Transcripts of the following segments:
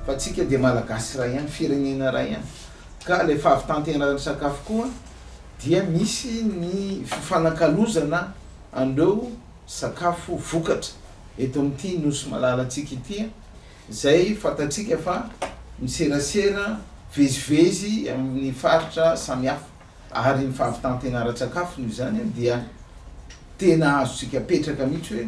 Fa antsika dia Malagasy iray ihany, firenena iray ihany, ka ilay fahavitan-tenan'ny sakafo koa dia misy ny fifanakalozana an'ireo. sakafo vokatra eto amin'ity Nosy malalantsika ity, izay fantatsika fa miserasera vezivezy amin'ny faritra samihafa ary ny fahavitan-tena ara-tsakafo noho izany dia tena azontsika apetraka mihitsy hoe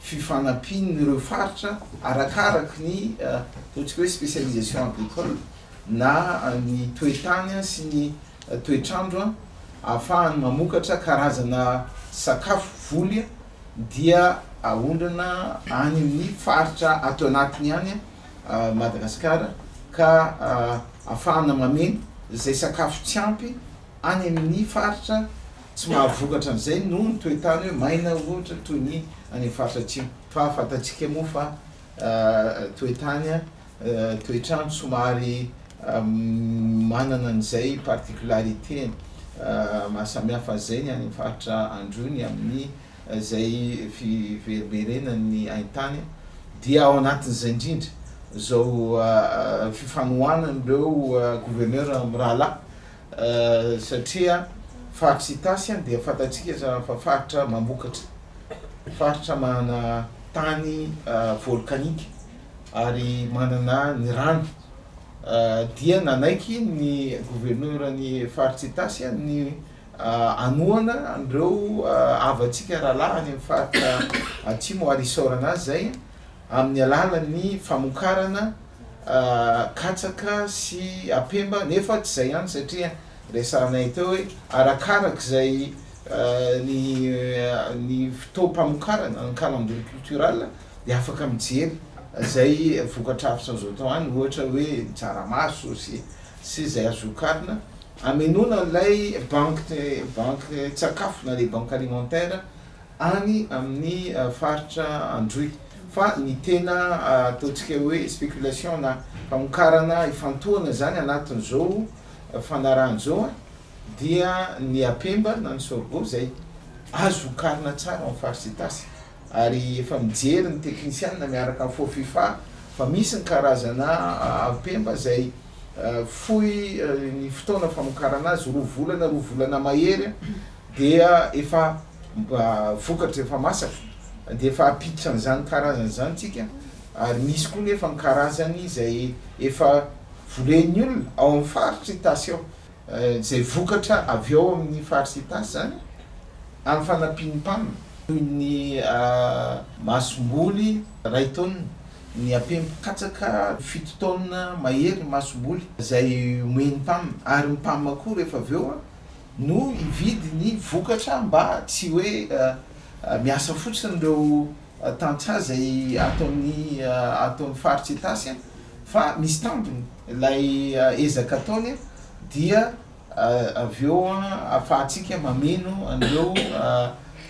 fifanampian'ireo faritra arakaraka ny ataontsika hoe spécialisation agricole na ny toe-tany sy ny toetr'andro ahafahany mamokatra karazana sakafo voly dia aondrana any amin'ny faritra ato anatiny any Madagasikara ka ahafahana mameno izay sakafo tsy ampy any amin'ny faritra tsy mahavokatra an'izay noho ny toe-tany hoe maina ohatra toy ny any amin'ny faritra atsimo fa fantatsika moa fa toe-tany toetr'andro somary manana an'izay particularité mahasamihafa an'izay ny any amin'ny faritra androny amin'ny izay fiverimberenan'ny haintany dia ao anatin'izay indrindra izao fifanohanan'ireo gouverneur mirahalahy satria faritry Itasy dia fantatsika izany fa faritra mamokatra, faritra manana tany volcanique. ary manana ny rano dia nanaiky ny governoran'ny faritra Itasy ny hanohana an'ireo havantsika rahalahy any amin'ny faritra atsimo ary hisaorana azy izay amin'ny alalan'ny famokarana katsaka sy apemba nefa tsy izay ihany satria resahanay teo hoe arakarak'izay ny ny fotoam-pamokarana ny calandrier cultural dia afaka mijery izay vokatra avy izao atao any ohatra hoe ny tsaramaso sy sy izay azo vokarina hamenoana ilay banky banky tsakafo na le banky alimentaire any amin'ny faritra androy fa ny tena ataontsika hoe spéculation na famokarana ifantohana izany anatin'izao fanarahana izao a dia ny apemba na ny sorgho izay azo vokarina tsara en farce itasy ary efa mijery ny teknisianina miaraka amin'ny Fofifa fa misy ny karazana ampemba izay fohy ny fotoana famokarana azy, roa volana, roa volana mahery dia efa vokatra efa masaka dia efa hampiditra an'izany karazana izany isika ary misy koa nefa ny karazany izay efa volen'ny olona ao amin'ny faritry Itasy ao. izay vokatra avy ao amin'ny faritra Itasy izany amin'ny fanampian'ny Pam, toy ny masomboly iray taonina, ny apemby katsaka fito taonina mahery ny masomboly izay omen'ny Pam ary ny Pam koa rehefa avy eo no hividy ny vokatra mba tsy hoe miasa fotsiny ireo. tantsaha izay ato amin'ny ato amin'ny faritra Itasy fa misy tambiny ilay ezaka ataony dia avy eo ahafahantsika mameno an'ireo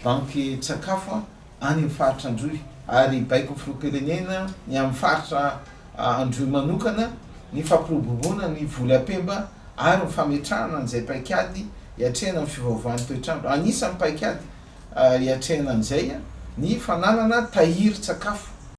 bankin-tsakafo any amin'ny faritra Androy ary baikon'ny filoham-pirenena ny amin'ny faritra Androy manokana ny fampiroboroboana ny voly am-pemba ary ny fametrahana an'izay paikady hiatrehana ny fiovaovan'ny toetr'andro. Anisan'ny paikady Hiatrehana an'izay ny fananana tahirin-tsakafo